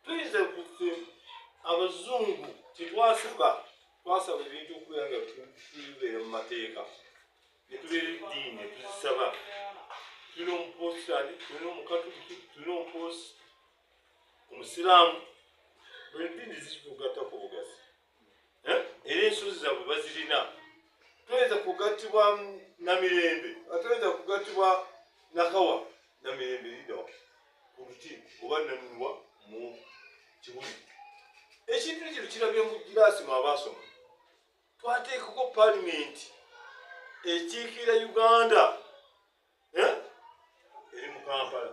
tuyinza okuti abazungu tetwasaba twasaba ebintu okubeera nga tubeera mu mateeka netubeera eddiini netuzisaba tulina omupositani tulina omukatuliki tulina omuposi omusiraamu buli ddiini zikitugattako obugazi eh? era ensozi zabwe bazirina toyinza kugattibwa namirembe atoyinza kugattibwa nakawa namirembe lidawa ku luti oba nanunwa mu kibuli ekintu ekyo kirabye mu giraasi mu abaasoma twateekako palimenti ekiikira uganda eh? eri mu kampala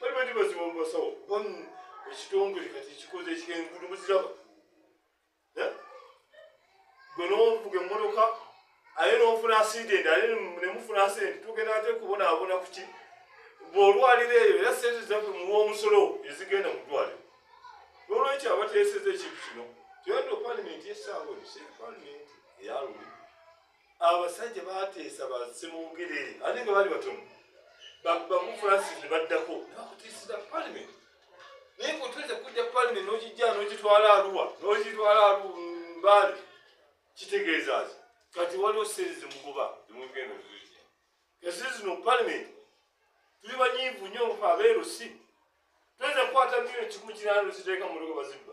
bali bati baziba mubasawo bamu ekitongole kati ekikoze ekyengudu muziraba eh? gwe novuga emmotoka aye nofuna asidenti aye nemufuna asidenti tugenda ate kubonaabona kuki bwolwaliro eyo era sente zaffe muwa omusolo ezigenda mu ddwaliro nolwekyo abateeseza ekintu kino tyondo palimenti esaawa ebiseera palimenti eyaluli abasajja bateesa basse mu bugerere ate nga baali batono bamu francis ne baddako nebakutiisiza palimenti naye kotweza kujja palimenti nokijja nokitwala aluwa nokitwala mbaale kitegeeza ki kati waliwo sente zemugoba emugenda zija kasi zino palimenti tuli banyiivu nyo abeerusi tweza kukwata myo ekimu kirano ziteeka mulogo bazibba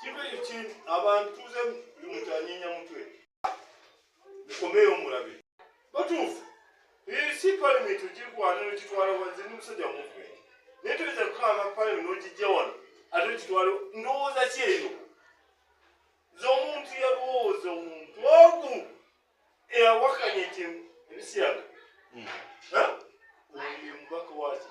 kibe ki abantu tuze mutanyinya mutwe mukomeyo mulabe batuufu si palimenti ogirwana nokitwala wanze ni musajja muvumenti naye toyinza kukanga palimenti nogijja wano ate okitwala ndowooza ki eyo z'omuntu yalowooza omuntu ogu eyawakanya nti ebisiyaga hmm. oyo mubaka waki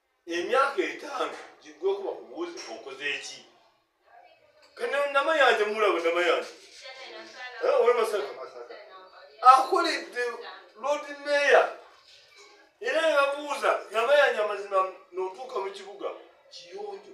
emyaka etaano giggweko bakubuuze okoze eki kati namayanja mulaba namayanja owe masaka akoledde lodi meya era nebabuuza namayanja amazima notuuka mu kibuga kiyonjo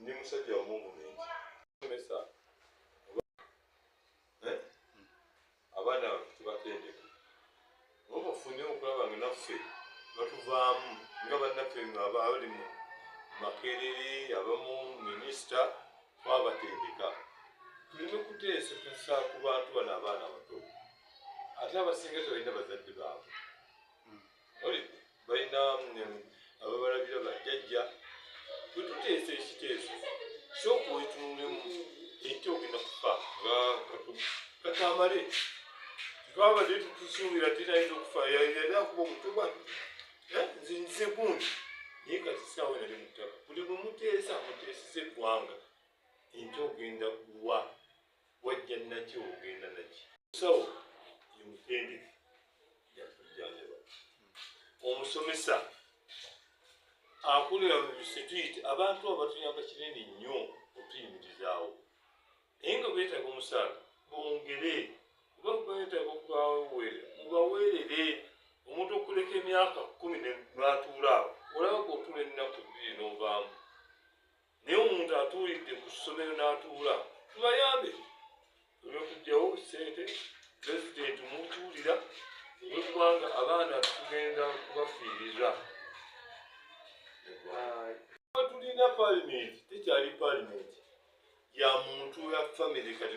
Ndi musajja wa movement. Mesa. Eh? Abana tubatendeka. Ngoba funye okulaba nga naffe batuvaamu nga bannaffe nga abali mu makerere abamu minisita twabatendeka tuleme kuteesesa ku bantu bano abaana bato ate abasinga tebalina bazadde baabwe balina ababalabira bajjajja bwetuteesa ekiteeso soka otunulemu ente ogenda kufa nga katamale twabadde tutusuubira tinayinza okufa yali akuba omutuba eh, nze nze gundi naye kati saawa nali mutaka buli bwemuteesa muteeseza eggwanga ente ogenda kuwa wajja naki ogenda naki sawo yomutendeke yatujjanjaba omusomesa akulira mu bisituiti abantu abatuyamba kinene nnyo otuyimirizaawo naye nga beetaaga omusaala bongere kuba beetaaga okubaweere mubaweerere omuntu okuleka emyaka kumi natuula awo olaba gotula ennaku bbiri novaamu naye omuntu atuulidde ku ssomero n'atuula tubayambe olwekujjawo sente pulezidenti mutuulira olwekubanga abaana tugenda kubafiiriza tulina palimenti tekyali palimenti ya muntu ya famiry kati